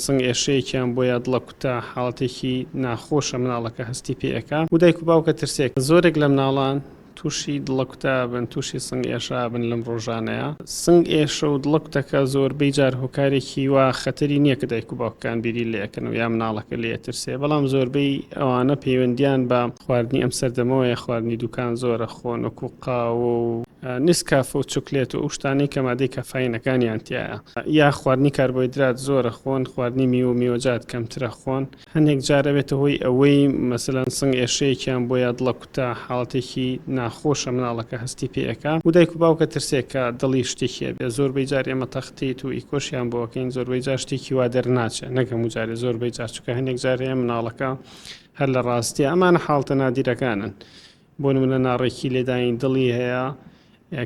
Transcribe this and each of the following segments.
سنگ ئێشەیەکیان بۆ یا دڵە کوتە حاڵەتێکی ناخۆشە مناڵەکە هەستی پێ ئەکا و دایک و باوکە ترسێکە زۆرێک لە مناڵان توشی دڵە کوتە ئەبن توشی سنگ ئێشە ئەبن لەم ڕۆژانەیا سنگ ئێشە و دڵە کوتەکە زۆر بەی جار هۆکارێکی وا خەتەری نییە کە دایک و باوکەکان بیری لێ ئەکەن و یا مناڵەکە لێ ئەترسێ بەڵام زۆربەی ئەوانە پەیوەندیان بە خواردنی ئەم سەردەمەوە یا خواردنی دوکان زۆرە خۆن وەکو قاوە و نیسکافە و چوکلێت و ئەو شتانەی کە مادەی کافاینەکانیان تیایە یا خواردنی کاربۆیدرات زۆرە خۆن خواردنی میوە و میوەجات کەمترە خۆن هەندێک جارە بێتە هۆی ئەوەی مەسەلەن سنگ ئێشەیەکیان بۆ یا دڵە کوتە حاڵەتێکی ناخۆشە مناڵەکە هەستی پێەکە و دایک و باوکە ترسێکە دڵی شتێکیە بێ زۆربەی جار ئێمە تەختیت و ئیکۆشیان بۆکەین زۆربەی جار شتێکی وا دەرناچێت نەکەم و جارێ زۆربەی جارچووکە هەندێک جارەیە مناڵەکە هەر لە ڕاستیە ئەمانە حاڵتە نادیرەکانن. بۆ نمونە ناڕێکی لێدانی دڵی هەیە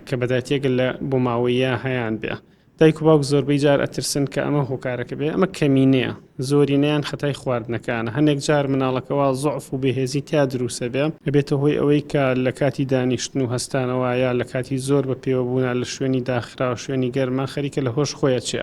کە بەداتیەگەر لە بۆ ماوەیە هەیان بێ دایک و باوک زۆربەی جار ئەترسن کە ئەمە هۆکارەکە بێ ئەمە کەمینەیە زۆری نیان خەتای خواردنەکانە هەندێک جار مناڵەکەەوە زعف و بەهێزی تیا دروسە بێ ئەبێتە هۆی ئەوەی کە لە کاتی دانیشتن و هەستانەوەە لە کاتی زۆر بە پێوەبوونا لە شوێنی داخراو شوێنی گەرما خەریکە لە هۆش خۆیە چێ